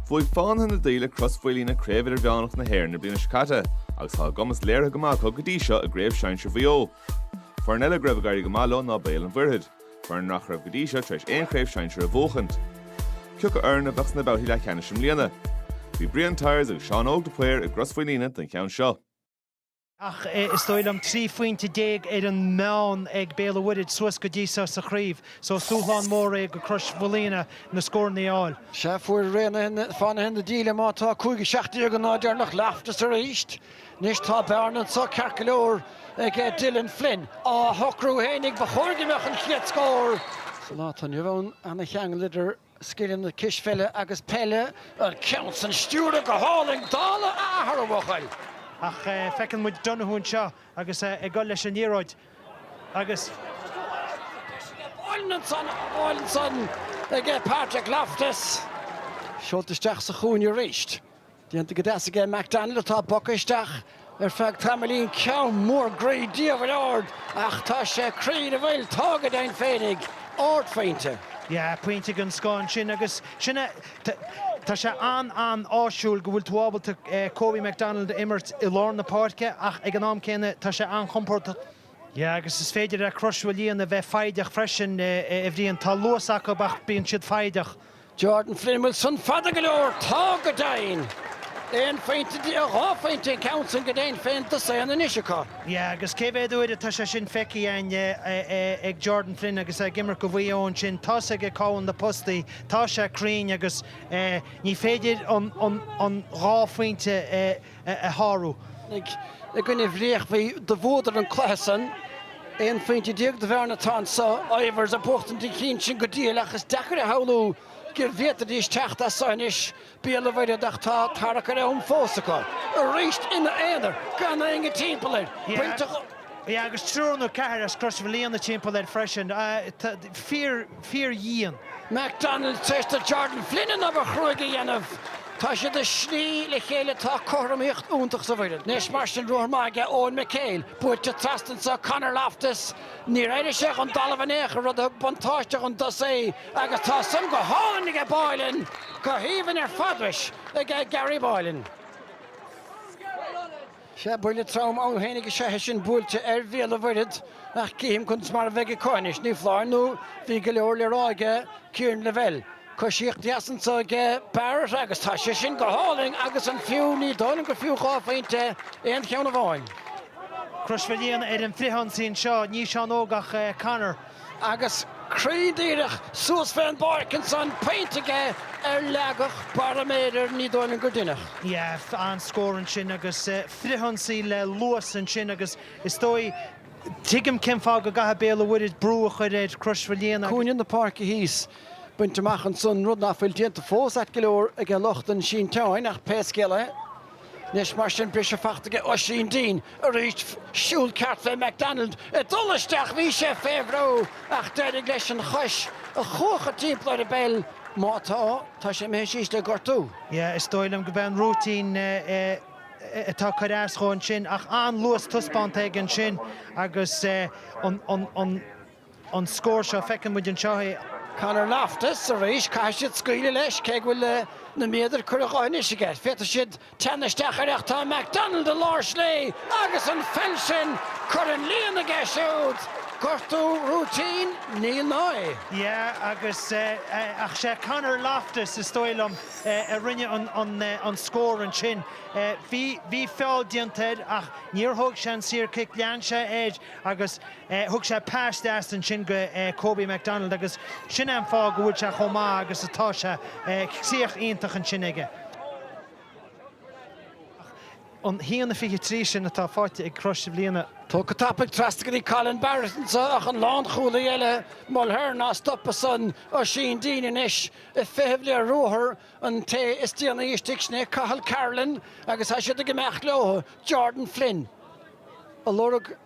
Bhuaigh Fánaithe na Daoile Crois Mhaoilíona Craobh Idirmheánach na hÉireann na bliana seo caite agus tá a gcumas léirithe go maith acu go dtí seo i gCraobh Sinsear Mhaigh Eo. Foireann eile go raibh ag éirí go maith leo ná Béal an Mhuirthead, foireann nach raibh go dtí seo tar éis aon Chraobh Sinsear a bhuachaint. Cioca foireann a bheadh sna babhtaí leathcheannais i mbliana? Bhí Brian Tyers agus Seán Óg de Paor i gCrois Mhaoilíona don cheann seo. ach is dóigh liom 13 phointe ar an meán ag Béal an Mhuirthid suas go dtí seo sa chraobh so is dúshlán mór é go Chrois Mhaoilíona na scóranna a fháil. Sea, fuair Raonaithe Fánaithe na Daoile má tá 5-17 an lá deireanach Loftus arís. Anois tá bearna anseo ceart go leor ag Dylan Flynn. Á shocrú fhéinig, ba chóir go mbeadh an chéad scór sa lá atá inniu ann. Ana-cheangal idir. Scileanna cispheile agus peile. An ceann san stiúrtha go hálainn, dála a athar, a bhuachaill! Ach feiceann muid Donoghue anseo agus é ag dul leis an liathróid agus. Bailithe ansan ag Patrick Loftus. Seolta isteach sa chúinne arís. Déanta go deas aige McDonald atá bogtha isteach ar feadh tamaillín, ceann mór groí diabhail ard ach tá sé cruinn an bhfuil? Tá go deimhin féinig, ardphointe. Yeah, pointe den scoth ansin agus sin é. Tá sé an-an-áisiúil go bhfuil tú ábalta Kobe McDonald a imirt i lár na páirce ach ag an am céanna tá sé an-chompordach. Yeah, agus is féidir le Crois Mhaoilíona bheith foighdeach freisin, a Bhriain. Tá luas acu ach bíonn siad foighdeach. Jordan Flynn bhfuil san fada go leor tá go deimhin! Aon phointe de a dhá phointe an ceann sin go deimhin féin dosaen anois acu. Yeah agus cé mhéad uair atá sé sin feicthe againn ag Jordan Flynn agus é ag imirt go Mhaigh Eo ansin tá's aige cá bhfuil na postaí tá sé cruinn agus ní féidir an dhá phointe a shárú. i gcoinne Bhréachmhaí do bhuadar an cluiche san. Aon phointe déag do bhearna atá anso. Ivers ag buachtaint an chinn sin go diail ach is deacair a shamhlú go bhféadfaidís teacht as so anois. Béal an Mhuirthead ach tá tarrac ar am fós acu. Arís ina aonar gan éinne timpeall air. Pointe. Agus triúr nó ceathrar as Crois Mhaoilíona timpeall air freisin. Fíor. Fear dhian. McDonald tar éis do Jordan Flynn an obair chruaidh a dhéanamh. Tá siad ag sní le chéile Tá cothromaíocht iontach sa bhfoireann anois mar sin ruathar maith aige Eoin McHale buailte trasna anseo Conor Loftus níor éirigh sé den dtalamh in aon chor rud a thug buntáiste don dtosaí agus tá san go hálainn aige Boylan go haoibhinn ar fad anois aige Gary Boylan. Sea, buille trom ann fhéinig is ea é sin buailte ar Bhéal an Mhuirthead, ach cífeam conas mar a bheidh acu anois, ní foláir nó bhí go leor le rá aige, Ciarán Lavelle. Coisíocht dheas anso aige Barrett agus tá sé sin go hálainn agus an fiú, ní dóigh liom gur fiú dhá phointe aon cheann amháin. Crois Mhaoilíona ar an frithionsaí anseo, ní Seán Óg ach Conor. agus cruinn díreach suas fén bpáirc ansan pointe aige ar leagadh baraiméidir Ní Dhoimhnain go dinneach. Yeah, an scór ansin agus frithionsaí le luas ansin agus is dóigh tuigim cén fáth go gcaithfidh Béal an Mhuirthid brú a chuir ar Crois Mhaoilíona agus. cúinne na páirce thíos bainte amach ansan, rud ná fuil déanta fós ait go leor aige lucht an sínteáin ach pé scéal é, Anois mar sin, briseadh fachta aige Oisín Deane arís siúl ceart fé McDonald ag dul isteach, bhí sé fé bhrú ach d'éirigh leis an chois a chuachadh timpeall ar an bpeil, má tá, tá sé imithe síos le gortú. Yeah, is dóigh liom go b'é an rúitín atá cur as dhó ansin ach an-luas taispeánta aige ansin agus an an scór seo. Feiceann muid anseo é. Conor Loftus arís. Caithfidh siad scaoileadh leis, cé go bhfuil na méadair curtha anois aige. Féadfaidh siad teannadh isteach air ach tá McDonald i lár slí agus an pheil sin curtha in líon aige siúd. Gortú rúitín? Níl ná. Yeah agus ach sé Conor Loftus is dóigh liom a rinne an scór ansin. Bhí feall déanta air ach níor thóg sé an saor cic, lean sé air agus. Thug sé pas deas ansin go Kobe McDonald agus sin an fáth go bhfuil sé chomh maith agus atá sé. Críoch iontach ansin aige. Ach an haon a fiche trí sin atá faighte ag Crois Mhaoilíona. Tógtha tapaidh trasna go dtí Colin Barrett anseo ach an lánchúlaí eile, Mulhern, á stop ansan Oisín Deane anois ag feitheamh le ruathar an té is déanaí istigh, sin é Cathal Carolan agus tá siad ag imeacht leo, Jordan Flynn á lorg.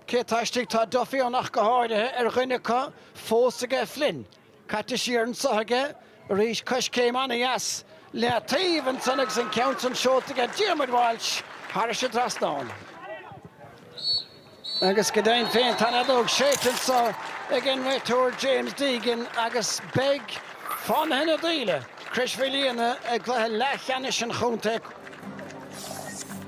Cé tá istigh tá Duffy ann ach go háirithe, ar dhuine acu fós aige Flynn caite siar anseo aige arís, coiscéim ana-dheas leataobh ansan agus an ceann san seolta aige Diarmuid Walsh thairis an dtrasnán. Agus go deimhin féin tá an fheadóg séidte anso ag an réiteoir James Deegan agus beidh Fánaithe na Daoile, Crois Mhaoilíona i gcluiche leathcheannais an chontae,